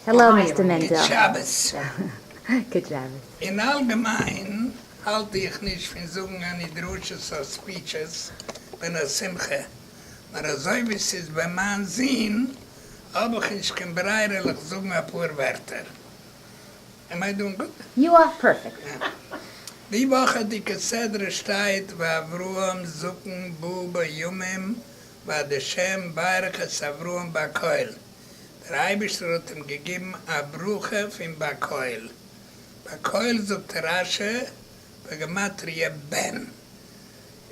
העלאו מיסטער מענדעל. גוט שבת. אין אלגעמיין האלט איך נישט פון זאגן עני דרשות אר ספיטשעס ווען א שמחה, נאר אזוי ווי ס'איז ביי מיין זון האב איך נישט קיין ברירה ליך זאגן אפאר ווערטער. עם איי דואינג גוד? יו אר פערפעקט. די וואכעדיגע סדרה שטייט ואברהם זקן בא בימים בעזהשם ברכת אברהם בקהל, דער אייבערשטער האט אים געגעבן א ברכה פון בקהל, בקהל זאגט רשי בגמטריא בן,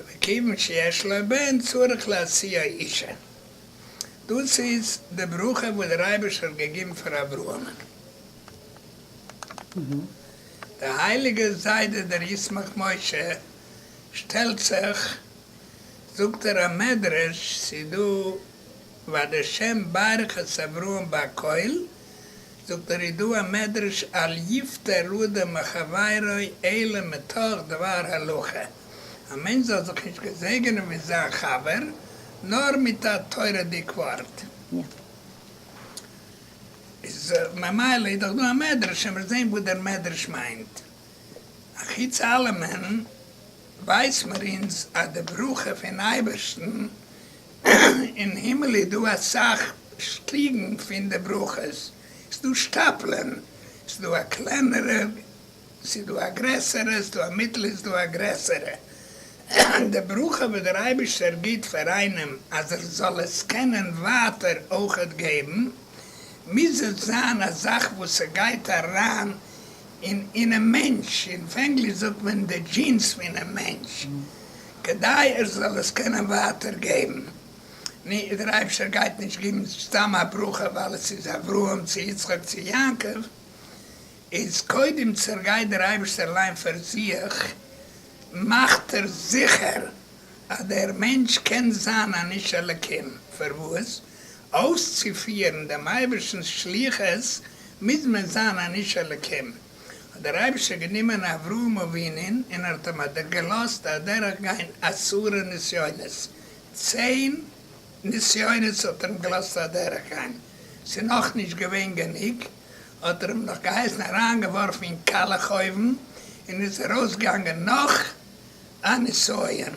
וכיוון שיש לו בן צריך להשיאו אישה, דאס איז די ברכה וואס דער אייבערשטער האט געגעבן פאר אברהמ'ן, דער הייליגער זיידע דער ישמח משה שטעלט זיך. זאגט ער א מדרש ס'איז דא ועד השם ברך את אברהם בהקהל, זאגט ער איז דא א מדרש אל יפטר אדם מחבירו אלא מתוך דבר הלכה, א מענטש זאל זיך נישט געזעגענען מיט זיין חבר נאר מיט א תורה'דיג ווארט. איז ממילא איז דאך דא א מדרש, עמער זעהן וואס דער מדרש מיינט. אחוץ אלעמען ווייס מיר אונז אז די ברכה פון אייבערשטן אין הימל איז דא אסאך שטיגן פון די ברכות, ס'איז דא שטאפלען, ס'איז דא א קלענערע, ס'איז דא א גרעסערע, ס'איז דא א מיטל, איז דא א גרעסערע. די ברכה וואס דער אייבערשטער גיט פאר איינעם אז ער זאל עס קענען ווייטער אויכעט געבן, מוז עס זיין א זאך וואס ס'גייט אריין און אינעם מענטש, און אויף ענגליש זאגט מען די דזשינס פונעם מענטש, כדי ער זאל עס קענען ווייטער געבן. נו, דער אייבישטער גייט נישט געבן סתם א ברכה ווייל עס איז אברהם צו יצחק צו יעקב, איז קודם צערגייט דער אייבישטער אליין פאר זיך, מאכט ער זיכער אז דער מענטש קען זיין אן איש אלקים, פארוואס? אויסצופירן דעם אייבערשטנ'ס שליחות מוז מען זיין אן איש אלוקים. האט דער אייבערשטער גענומען אברהם אבינו'ן און האט אים אדורכגעלאזט אדורך גיין עשרה נסיונות. צען נסיונות האט ער אים געלאזט אדורך גיין. ס'איז נאך נישט געווען גענוג, האט ער אים נאך געהייסן אריין געווארפן אין קאלעך אויוון, און איז ארויס געגאנגען נאך א נסיון.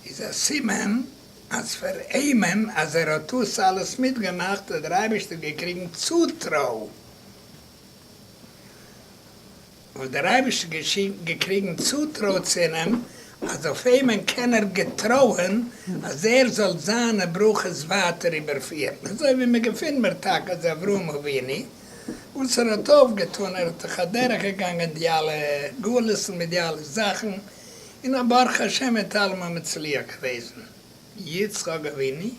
איז א סימן אז פאר איינעם אז ער האט דאס אלעס מיטגעמאכט האט דער אייבערשטער געקריגן צוטרוי, האט דער אייבערשטער געקריגן צוטרוי צו איהם אז אויף איהם קען ער געטרויען אז ער זאל זיינע ברכות ווייטער איבערפירן, אזוי ווי מען געפינט מיר טאקע אז אברהם אבינו וואס ער האט אויפגעטאן, ער האט דאך אדורכגעגאנגען די אלע גלות'ן מיט די אלע זאכן, און א ברוך השם מיט אלעם א מצליח געוועזן יצחק אבינו.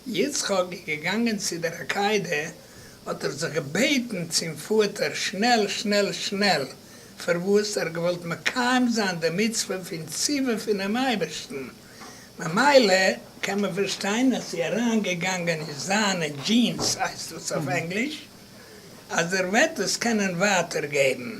יצחק איז געגאנגען צו דער עקידה האט ער זיך געבעטן צום פאטער שנעל שנעל שנעל פארוואס ער האט געוואלט מקיים זיין די מצוה פון ציווי פונעם אייבערשטן ממילא קען מען פארשטיין אז ס'איז אריין געגאנגען אין זיינע דזשינס הייסט עס אויף ענגליש אז ער וועט עס קענען ווייטער געבן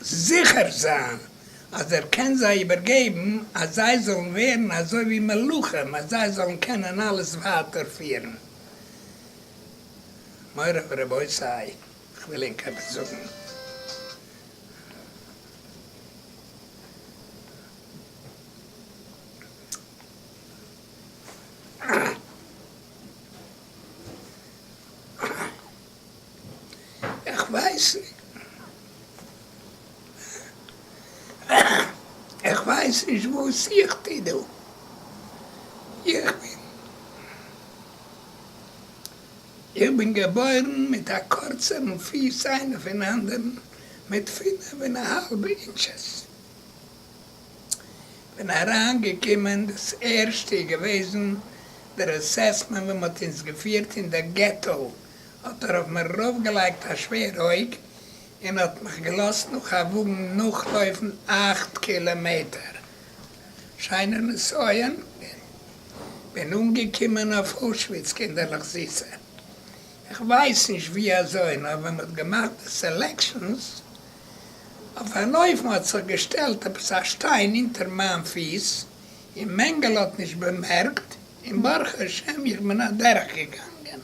זיכער זיין אז ער קען זיי איבערגעבן אז זיי זאלן ווערן אזוי ווי מלאכים אז זיי זאלן קענען אלעס ווייטער פירן. מורי ורבותי, איך וויל ענק עפעס זאגן. איך ווייס נישט איך ווייס נישט וואס איך טוה דא, איך בין איך בין געבוירן מיט א קורצערן פיס איינער פון אנדערן מיט פינף און א האלב אינטשעס. כ'בין אריין געקומען, דאס ערשטע איז געוועזן דער עססמענט ווען מ'האט אונז געפירט אין דער געטא, האט ער אויף מיר ארויף געלייגט א שווער אויג און האט מיך געלאזט נאך א וואגן נאך לויפן אכט קילאמעטער, שיינער נסיון, כ'בין אנגעקומען אויף אושוויץ, קינדערלעך זיסע, כ'ווייס נישט ווי אזוי נאר ווען מ'האט געמאכט די סעלעקשאנס אויף אַן אופֿן האָט זיך געשטעלט עפּעס אַ שטיין אונטער מײַן פֿיס, און מענגעלע האָט נישט באַמערקט, און ברוך-השם, איך בין אַדורכגעגאַנגען.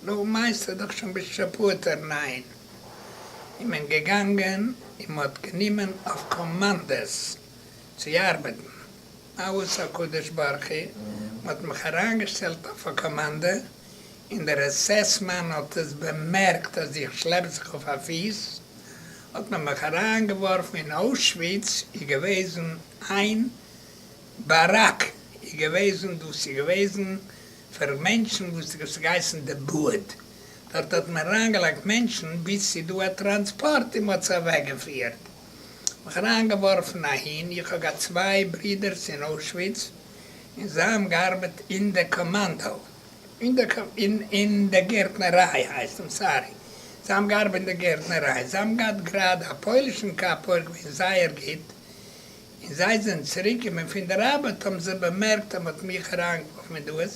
נו, מײנסטו דאָך שוין ביסט שפּאָטער, ניין? איז מען געגאַנגען און מע האָט גענומען אויף קאָמאַנדעס צו אַרבעטן. אַוואָס, הקדוש-ברוך-הוא, מע האָט מיך אַרײַנגעשטעלט אויף אַ קאָמאַנדע, און דער עס-עס מאן האט עס באמערקט אז איך שלעפ זיך אויף א פיס, האט מען מיך אריינגעווארפן אין אוישוויץ, איז געוועזן איין באראק, איז געוועזן דאס איז געוועזן פאר מענטשן וואס דאס איז געהייסן די באד, דארט האט מען אריינגעלייגט מענטשן ביז ס'איז דא א טראנספארט און מ'האט זיי אוועקגעפירט, מיך אריינגעווארפן אהין, איך האב געהאט צוויי ברודערס אין אוישוויץ און זיי האבן געארבעט אין די קאמאנדא. אין דער גערטנערײַ, הײסט, אַם סאַרי, זײ האָבן געאַרבעט אין דער גערטנערײַ. זײ האָבן געהאַט גראַדע אַ פּױלישן קאַפּ, אױך געװען זײער גוט. און זײ זענען צוריקגעקומען פֿון דער אַרבעט, האָבן זײ באַמערקט, אַז מע האָט מיך אַרײַנגעװאָרפֿן אין דאָס,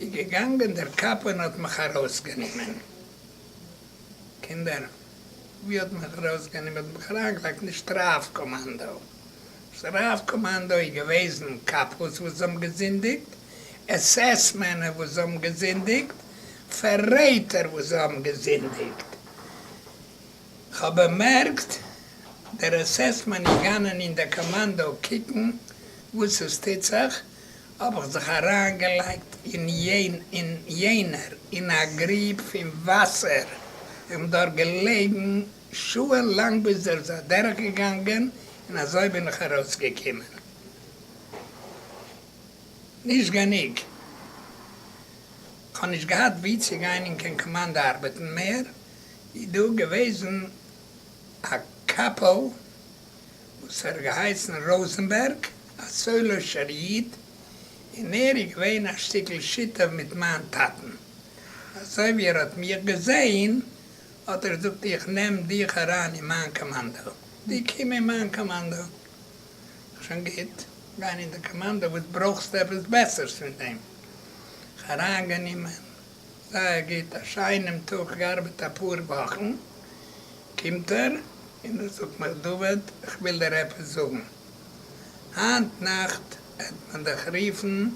איז געגאַנגען דער קאַפּ און האָט מיך אַרױסגענומען. קינדער, ווי האט מען ארויסגענומען דעם חרייגלייט נישט רב קאמאנדא? נישט רב קאמאנדא איז געוועזן קאפלס וואס האבן געזינדיגט, עס עס מענער וואס האבן געזינדיגט, פאררעטער וואס האבן געזינדיגט. כ'האב באמערקט דער עס עס מען איז גאנען אין דער קאמאנדא קוקן וואס עס טוט זיך, האב איך זיך אריינגעלייגט אין יענער אין א גריב פון וואסער און דארט געלעגן שעה'ן לאנג ביז ער איז אדורך געגאנגען און אזוי בין איך ארויס געקומען. נישט גענוג, כ'האב נישט געהאט וואו צו גיין און קיין קאמאנדא ארבעטן מער, איז דא געוועזן א קאפעל, וואס ער האט געהייסן ראזענבערג, א סולישער איד, און ער איז געווען א שטיקל שותף מיט מיין טאטן. אזוי ווי ער האט מיך געזען, האט ער געזאגט, איך נעם דיך אריין אין מיין קאמאנדא. דו קום אין מיין קאמאנדא. שוין גוט, גיין אין די קאמאנדא, וואס ברויכסטו עפעס בעסערס פון דעם? איך אריינגענומען, זייער גוט, א שיינעם טאג, געארבעט אפאר וואכן, קומט ער און ער זאגט מיך דוד איך וויל דיר עפעס זאגן, היינט נאכט העט מען דיך רופן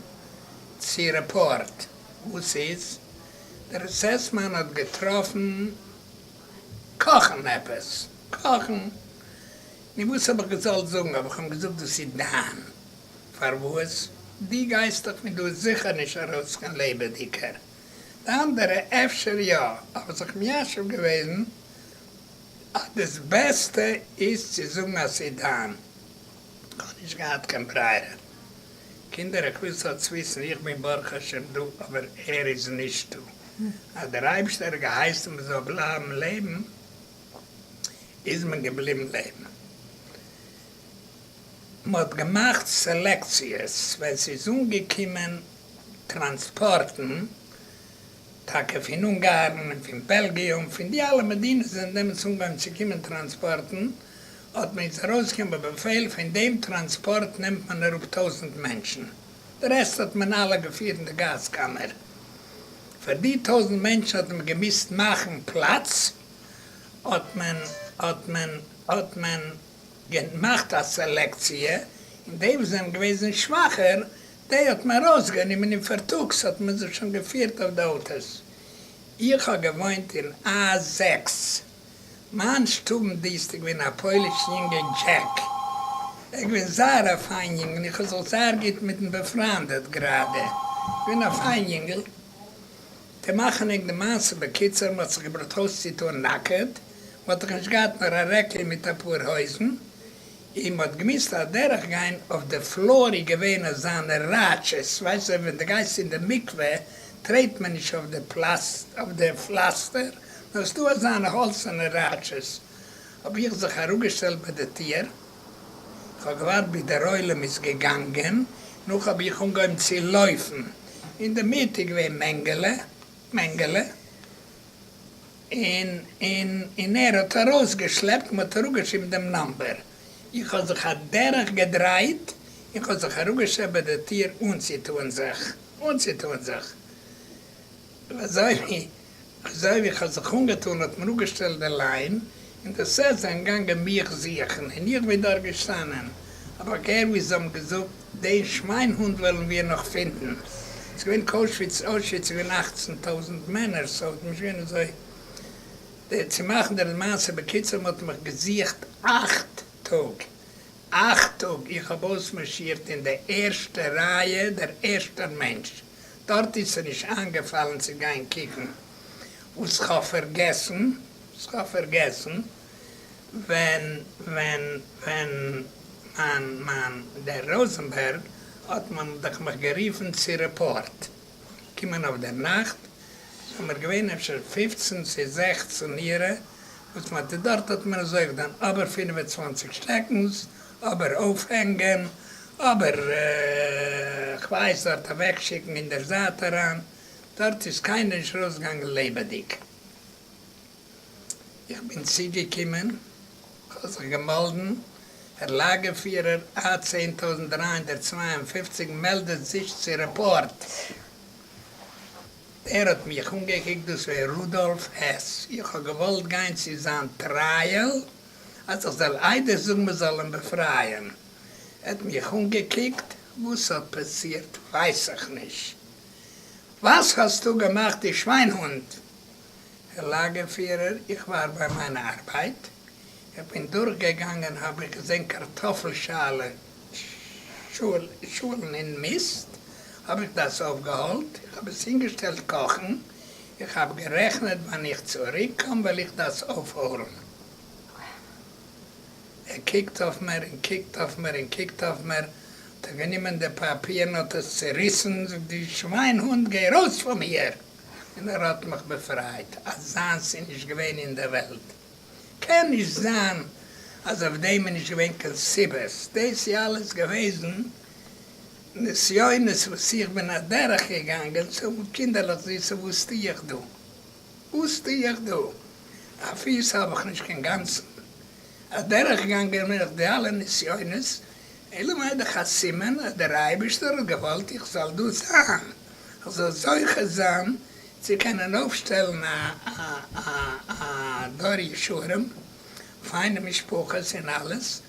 צו רעפארט, וואס איז? דער עס עס מאן האט געטראפן קאכן עפעס, קאכן? נו וואס האב איך געזאלט זאגן, האב איך אים געזאגט דאס איז דיין, פארוואס? דו גייסט דאך פון דא זיכער נישט ארויס קיין לעבעדיגער. די אנדערע אפשר יא, אבער זיך מיישב געוועזן אז דאס בעסטע איז צו זאגן אז ס'איז דיין. כ'האב נישט געהאט קיין ברירה. קינדער איך וויל ס'זאל צוויסן, איך בין ברוך השם דא אבער ער איז נישטא. אז דער אייבערשטער האט געהייסן מ'זאל בלייבן לעבן איז מען געבליבן לעבן. מ'האט געמאכט סעלעקציעס ווען ס'איז אנגעקומען טראנספארטן, טאקע פון אונגארן און פון בעלגיע און פון די אלע מדינות זענען דעמאלטס אנגעהויבן צו קומען טראנספארטן, האט מען אונז ארויסגעגעבן א באפעל, פון דעם טראנספארט נעמט מען אראפ טויזנט מענטשן, די רעסט האט מען אלע געפירט אין די גאז קאמער. פאר די טויזנט מענטשן האט מען געמוזט מאכן פלאץ, האט מען, האט מען, האט מען. געמאכט א סעלעקציע און די וואס זענען געוועזן שוואכער די האט מען ארויסגענומען און פארטאגס האט מען זיך שוין געפירט אויף די אוטאס. איך האב געוואוינט אין א זעקס מיין שטובן דיסטריקט ווען א פויליש יונגע דזשעק ער איז געווען זייער א פיין יונגל און איך האב זיך זייער גוט מיט אים באפריינדעט גראדע געווען א פיין יונגל. צו מאכן ענק די מעשה בקיצור, מ'האט זיך געברויכט אויסצוטאן נאקעט, מ'האט דאך נישט געהאט נאר א רעקל מיט אפאר הויזן, און מ'האט געמוזט אדורך גיין אויף די פלאר איז געווען אזאנע ראטשעס, ווייסט זיך ווען די גייסט אין די מקווה טרעט מען נישט אויף די פלאסט אויף די פלאסטער, נאר ס'דא אזאנע האלצערנע ראטשעס, האב איך זיך אראפגעשטעלט ביי די טיר, כ'האב געווארט ביז דער עולם איז געגאנגען, נאך האב איך אנגעהויבן צו לויפן, אין די מיט איז געווען מענגעלע, מענגעלע, און און און ער האט ארויס געשלעפט, מען האט אראפגעשריבן דעם נאמבער, איך האב זיך א דרך געדרייט, און כ'האב זיך אראפגעשטעלט ביי די טיר אנצוטוען זיך, אנצוטוען זיך. און אזוי ווי אזוי ווי כ'האב זיך אנגעטאן האט מען אפגעשטעלט די ליין און די סערס זענען געגאנגען מיך זוכן און איך בין דארט געשטאנען האב איך געהערט ווי זיי האבן געזאגט דעם שוויינהונט וועלן מיר נאך פינדן. ס'איז געווען קאושוויץ אוישוויץ איז געווען אַכצן טויזנט מענער סאו ס'איז נישט געווען אזוי די צו מאכן די מעשה בקיצור מען האט מיך געזוכט אַכט טאג אַכט טאג איך האב אויסמארשירט אין די ערשטע רייע דער ערשטער מענטש דארט איז עס נישט איינגעפאלן צו גיין קוקן וואס כ'האב פארגעסן, וואס כ'האב פארגעסן, ווען, ווען, ווען מיין, מיין, דער ראזענבערג האט מען דאך מיך גערופן צו רעפארט, געקומען אויף דער נאכט, זעמיר געווען אפשר פופצן צו זעכצן אירע, וואס מ'האט, דארט האט מען עס אויך דאן, אבער פינף און צוואנציג שטעקנס אבער אויפהענגען, אבער כ'ווייס דארט אוועקשיקן אין דער זייט אריין, דארט איז קיינער נישט ארויסגעגאנגען לעבעדיג. איך בין צוגעקומען, כ'האב זיך געמאלדן, הער לאגערפירער, א צען טויזנט דרײַ הונדערט צוויי און פֿופֿציק מעלדעט זיך צו רעפארט. דער האט מיך אנגעקוקט, דאס ווען רודאלף העס, איך האב געוואלט גיין צו זיין טרייעל, אַז איך זאָל אײדער זאָגן, מע זאָל אים באַפֿרײַען. ער האָט מיך אָנגעקוקט, װאָס האָט פּאַסירט, װײס איך נישט. װאָס האָסטו געמאַכט, דו שװײַנהונט? הער לאַגער-פֿירער, איך װאַר בײַ מײַן אַרבײט. איך בין דורכגעגאַנגען, האָב איך געזען קאַרטאָפֿל-שאַלן אין מיסט, האָב איך דאָס אױפֿגעהולט, איך האָב עס הינגעשטעלט קאָכן. איך האב גערעכנעט ווען איך צוריק קום וועל איך דאס אויפהערן. ער קוקט אויף מיר און קוקט אויף מיר און קוקט אויף מיר, האט ער גענומען די פאפיר און האט עס צוריסן, זאגט דו שוויין הונט גיי ארויס פון מיר! און ער האט מיך באפרייט, אזאנס איז נישט געווען אין די וועלט, קען נישט זיין אז אויף דעם איז נישט געווען קיין סיבות, דאס איז אלעס געוועזן. נסיונות וואס איך בין אדורך געגאנגען צו האבן קינדערלעך זיסע וואס טוה איך דא? וואס טוה איך דא? א פיס האב איך נישט קיין גאנצן. אדורך גאנגען בין איך די אלע נסיונות, אלא מאי דאך א סימן אז דער אייבערשטער האט געוואלט איך זאל דא זיין, איך זאל זוכה זיין צו קענען אויפשטעלן א א א דור ישרים, פיינע משפחות און אלעס.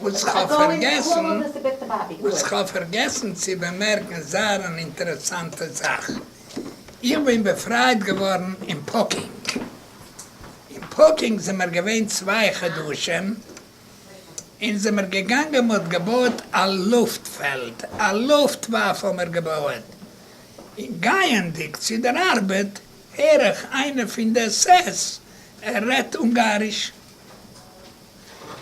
וואס כ'האב פארגעסן וואס כ'האב פארגעסן צו באמערקן זייער אן אינטערעסאנטע זאך, איך בין באפרייט געווארן אין פאקינג, אין פאקינג זעמער געווען צוויי חדשים און זעמער געגאנגען מ'האט געבויעט א לופט פעלד, א לופט וואף האמער געבויעט, און גייענדיג צו דער ארבעט הער איך איינער פון די עס עס ער רעדט אונגאריש.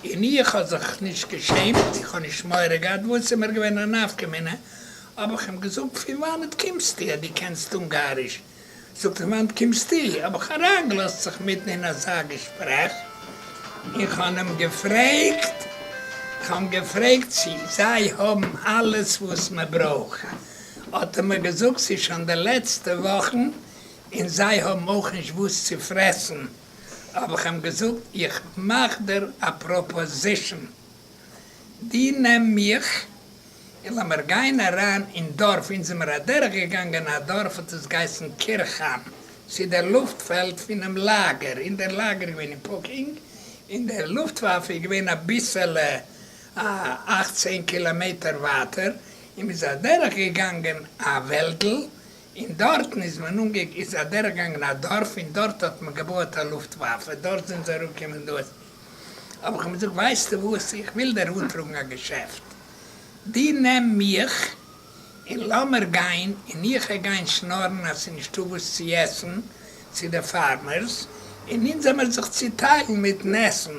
און איך האב זיך נישט געשעמט, איך האב נישט מורא געהאט, וואס איז מיר געווען א נפקא מינה, האב איך אים געזאגט פון וואנעט קומסטו אז דו קענסט אונגאריש? זאגט פון וואנעט קומסטו? האב איך אריינגעלאזט זיך מיטן אין אזא געשפרעך, און כ'האב אים געפרעגט, כ'האב אים געפרעגט צו זיי האבן אלעס וואס מען ברויך, האט ער מיר געזאגט ס'איז שוין די לעצטע וואכן און זיי האבן אויך נישט וואס צו פרעסן. האב איך אים געזאגט איך מאך דיר א פראפאזישן, דו נעם מיך און לאמיר גיין אריין אין דארף, אונז זעמיר אדורך געגאנגען א דארף האט עס געהייסן קירכהיים, צו דער לופט פעלד פונעם לאגער, און דער לאגער איז געווען אין פאקינג, און דער לופטוואפע איז געווען אביסעלע א אכט צען קילאמעטער ווייטער, און מ'איז אדורך געגאנגען א וועלדל, און דארטן איז מען אנגע איז אדורכגעגאנגען א דארף און דארט האט מען געבויעט א לופטוואפע, דארט זענען זיי אראפגעקומען דאס האב איך אים געזאגט ווייסטו וואס איך וויל דיר אנטראגן א געשעפט, דו נעם מיך און לאמיר גיין און איך העט גיין שנארן אז ס'איז נישטא וואס צו עסן צו די פארמערס און אונז העמיר זיך צוטיילן מיטן עסן.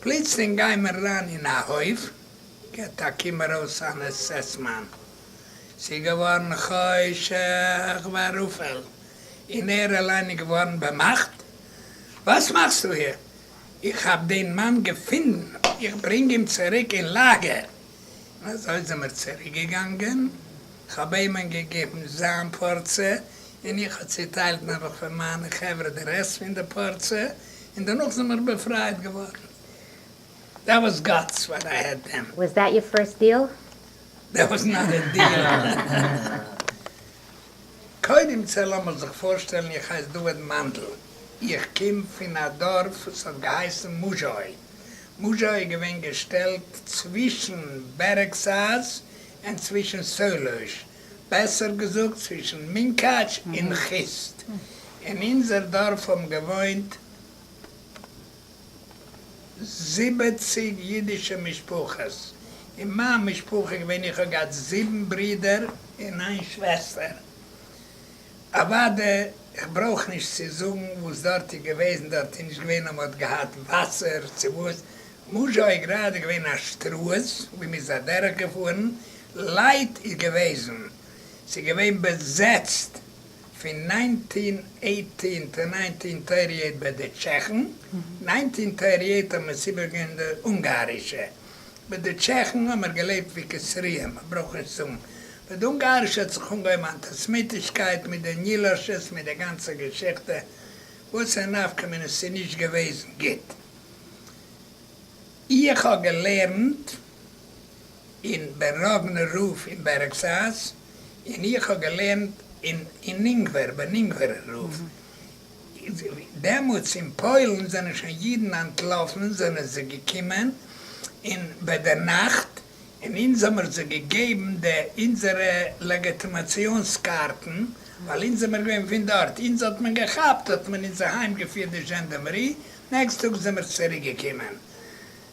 פלוצלינג גיי מיר אריין אין א הויף, געט א קום ארויס אן עס עס מאן. ס'איז געווארן חושך וערפל, און ער אליין איז געווארן באמאכט, וואס מאכסטו היר? איך האב דען מאן געפונדן, איך ברענג אים צוריק אין לאגער. און אזוי זעמער צוריק געגאנגען, כ'האב עים'ן געגעבן זיין פארציע, און איך האב צוטיילט נעבעך פאר מיינע חברה די רעסט פון די פארציע, און דערנאך זענען מיר באפרייט געווארן. דעט וואס גאטס וואט איי העד דען. וואס דעט יור פירסט דיעל? דעט וואס נאט א דיעל. קודם צו לאמיך זיך פארשטעלן איך הייס דוד מאנדל איך קום פון א דארף וואס האט געהייסן מוזשאוי, מוזשאוי איז געווען געשטעלט צווישן בערעגסאז און צווישן סעלוש, בעסער געזאגט צווישן מונקאטש און חוסט, אין אונזער דארף האבן געוואוינט זיבעציג אידישע משפחות, אין מיין משפחה געווען איך האב געהאט זיבן ברידער און איין שוועסטער, אוואדע איך ברויך נישט צו זאגן וואס דארט איז געוועזן, דארט איז נישט געווען אז מ'האט געהאט וואסער צו וואס, משא כ איז גראדע געווען א שטראז ווי מ'איז אדורך געפארן, לייט איז געוועזן, ס'איז געווען בעזעצט פון ניינטין עיטין טו ניינטין טערטי עיט ביי די טשעכן, ניינטין טערטי עיט האט מען עס איבערגעגעבן די אונגארישע, מיט די טשעכן האט מען געלעבט ווי כסריהם, מען ברויך נישט זאגן, מיט די אונגארישע האט זיך אנגעהויבן אנטיסמיטישקייט מיט די נילאשעס מיט די גאנצע געשיכטע, וואס א נפקא מינה ס'איז נישט געוועזן גוט, איך האב געלערנט. און בן רבן רב אין בערעגסאז, און איך האב געלערנט אין אין אונגווער בן אונגווער רב, דעמאלטס אין פוילן זענען שוין אידן אנטלאפן זענען זיי געקומען אין ביי דער נאכט און אונז האמיר זיי געגעבן די אונזערע לעגעטימאציאנס קארטן ווייל אונז זעמיר געווען פון דארט אונז האט מען געכאפט האט מען אונז אהיים געפירט די זשענדעמערי נעקסט טאג זעמיר צוריק געקומען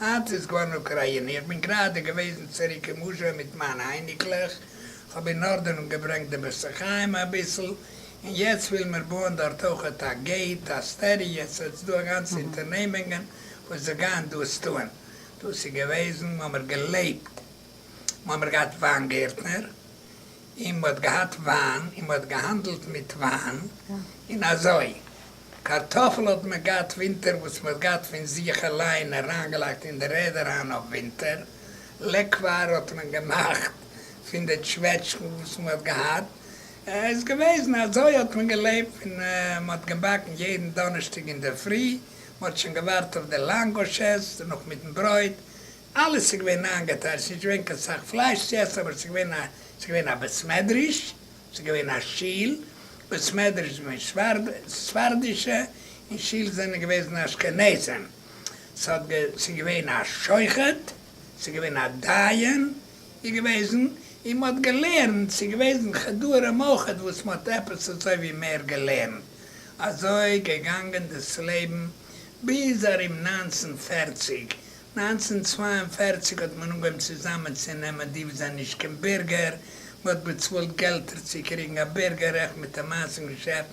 היינט איז געווארן אוקריינע, איך בין גראדע געוועזן צוריק אין מוזשאוי מיט מיינע אייניקלעך, כ'האב אין ארדענונג געברענגט די בית החיים אביסל, און יעצט ווילן מיר בויען דארט אויכעט א געיט, א סטעריע, סאו עס איז דא א גאנצע אונטערנעמונגען וואס זיי גייען דאס טוען, דאס איז געוועזן וואו מיר געלעבט. מ'האמער געהאט וויין גערטנער, און מ'האט געהאט וויין, און מ'האט געהאנדלט מיט וויין, און אזוי. קארטאפל האט מען געהאט ווינטער וואס מ'האט געהאט פון זיך אליין אריינגעלייגט אין די ערד אריין אויף ווינטער, לעקוואר האט מען געמאכט פון די טשוועטשקן וואס מ'האט געהאט, איז געוועזן אזוי האט מען געלעבט, און מ'האט געבאקן יעדן דאנערשטאג אינדערפרי, מ'האט שוין געווארט אויף די לאנגוש'ס, נאך מיטן ברויט, אלעס איז געווען איינגעטיילט, ס'איז נישט געווען קיין סאך פלייש צו עסן, אבער ס'איז געווען א, ס'איז געווען א בית מדרש, ס'איז געווען א שול, בית מדרש איז געווען ספרד, ספרדישע, און שול זענען געוועזן אשכנזים. ס'האט גע, ס'איז געווען א שוחט, ס'איז געווען א דיין, איז געוועזן, און מ'האט געלערנט, ס'איז געוועזן חדרים אויך וואס מ'האט עפעס אזוי ווי מער געלערנט. אזוי געגאנגען דאס לעבן ביז ארום נײַנצן פֿערציק, נײַנצן צוויי און פֿערציק האט מען אנגעהויבן צוזאמען צו נעמען די וואס זענען נישט קיין בירגער, מען האט באצאלט געלטער צו קריגן א בירגער רעכט מיט א מאסן געשעפט,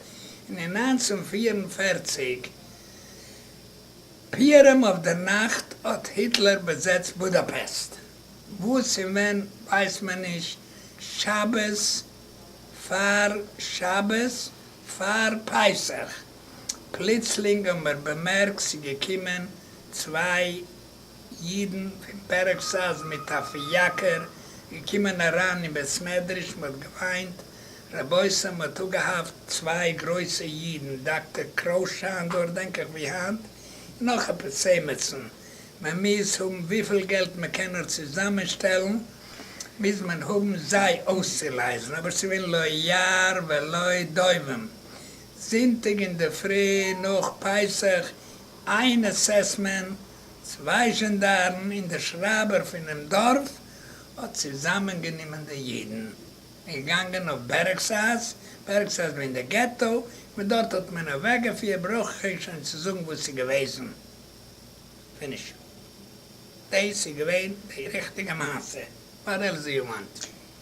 און אין נײַנצן פֿיר און פֿערציק פיהרעם אויף דער נאכט האט היטלער באזעצט בודאפעסט, וואס און ווען ווייסט מען נישט, שבת פאר שבת פאר פסח. פלוצלינג האבן מיר באמערקט ס'געקומען צוויי אידן פון פערעקסאז מיט א פיאקער געקומען אריין אין בית מדרש, מ'האט געוויינט רבותי, מ'האט אפגעהאפט צוויי גרויסע אידן, דאקטער קראוס שאנדור דענק איך ווי היינט, און נאך עפעס עימיצן, מען מוז האבן וויפיל געלט מען קען נאר צוזאמען שטעלן מוז מען האבן זיי אויסצולייזן, אבער ס'געווען לא יער ולא דובים, זונטאג אינדערפרי נאך פסח, איין אסעסמענט, צוויי זשענדארן און דער שרייבער פונעם דארף האט צוזאמענגענומען די אידן און געגאנגען אויף בערעגסאז, בערעגסאז מיינט דער געטא, פון דארט האט מען אוועקגעפירט, ברויך איך אייך שוין צו זאגן וואס איז געוועזן, פיניש. דעיס איז געווען די ריכטיגע מעשה, וואט עלס דו יו וואנט.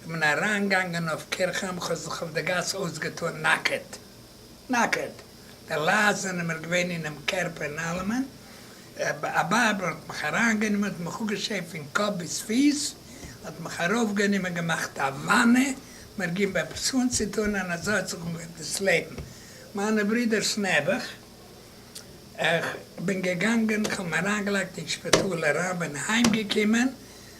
איך בין אַרײַנגעגאַנגען אױף קירכהײם, איך האָב זיך אױף דער גאַס אױסגעטאָן נאַקעט, נאַקעט, די לײַט זענען מיר געװען אינעם קערפּ און אַלעמען, אַ באָבע האָט מיך אַרײַנגענומען, האָט מיך אָפּגעשערט פֿון קאָפּ ביז פֿיס, האָט מיך אַרױפֿגענומען, געמאַכט אַ װאַנע, מיר געבן עפּעס אָנצוטאָן, און אַזױ האָט זיך אָנגעהױבן דאָס לעבן מײַנע ברידערס נעבעך. איך בין געגאַנגען, איך האָב אים אַרײַנגעלײגט אין שפּיטאָל אַרײַן, בין הײמגעקומען,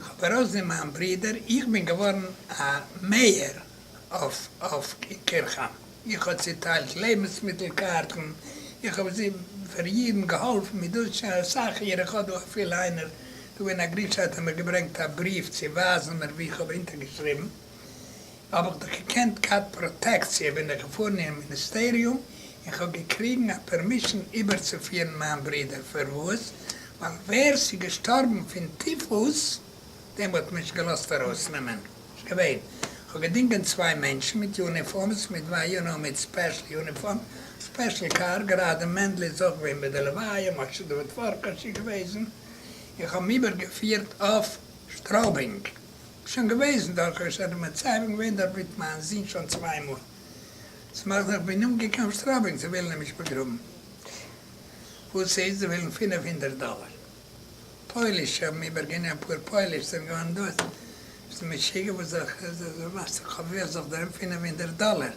חברה זי מיין ברודער, איך בין געווארן א מעיאר אויף אין קירכהיים, איך האב צוטיילט לעבנסמיטל קארטן, איך האב זי פאר אידן געהאלפן מיט דאס שוין אסאך יאר, איך האב דא אפילו איינער דא אין א גרופ סייט האט מיר געברענגט א בריוו צו ווייזן מיר ווי איך האב אונטערגעשריבן. האב איך דאך געקענט געהאט פראטעקציע בין איך געפארן אין מיניסטעריום און כ'האב געקריגן א פערמישן איבערצופירן מיין ברודער פארוואס ווייל ווער ס'איז געשטארבן פון טיפוס דעם האט מען נישט געלאזט ארויסנעמען נישט געווען כ'האב געדינגען צוויי מענטשן מיט יוניפארמס מיט וויי יו נאו מיט ספעשל יוניפארם ספעשל קאר גראדע מענדל איז אויך געווען ביי די לוויה משה דוד פארקאש איז געוועזן און כ'האב אים איבערגעפירט אויף שטרויבינג שוין געוועזן דארט, כאב שוין די מצבים געווען דארט מיט מיין זון שוין צוויי מאל, ס'מאכט זיך ווי נאנט געקאמט סטראפינג צו ווילן אים נישט באגראבן, וואס ס'איז זיי ווילן פֿינף הונדערט דאלער, פויליש האבן איבער גענומען אפאר פויליש זענען געווארן דאס, ביסט משוגע וואס זאל איך, וואס זאל איך מאכן, כ'האב ווער זאל איך דערהערן פֿינף הונדערט דאלער.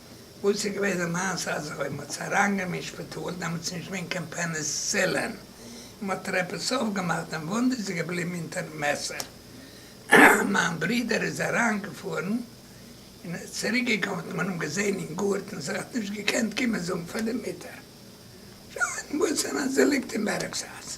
וואס איז געווען די מעשה אז אויב מ'האט עס אריינגענומען אין שפיטאל דעמאלטס איז נישט געווען קיין פעניסילין און מ'האט ער עפעס אויפגעמאכט דעם וואונד איז ער געבליבן אונטערן מעסער מיין ברודער איז אריינגעפארן און ער איז צוריק געקומען האט מען אים געזען אין גארטן זיך האט נישט געקענט קומען זאגן פאר די מוטער שוין וואס און אז ער ליגט אין בערעקס אז.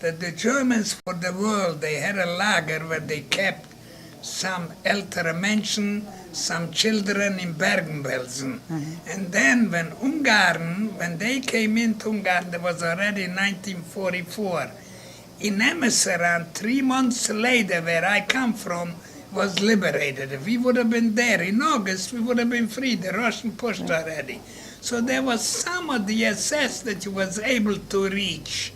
דער דעטשורמענס פאר די וואל דעי הערע לאגער וועט דעי קעפט סאם עלטערע מענטשן סאם טשילדרען אין בערגן בעלזן ענד דען ווען אונגארן ווען דעי קעים אינט אונגארן דער וואס אלרעדי ניינטין פארטי פאר אין אמעס אריין טרי מאנטס לעידער ווער איי קאם פראם וואס ליבערעיטעד ווי וואד האב בין דער אין אוגעסט ווי וואד האב בין פרי די ראשן פאשט אלרעדי סאו דער וואס סאם אוו די עססעס דעט יו וואס עיבל טו ריטש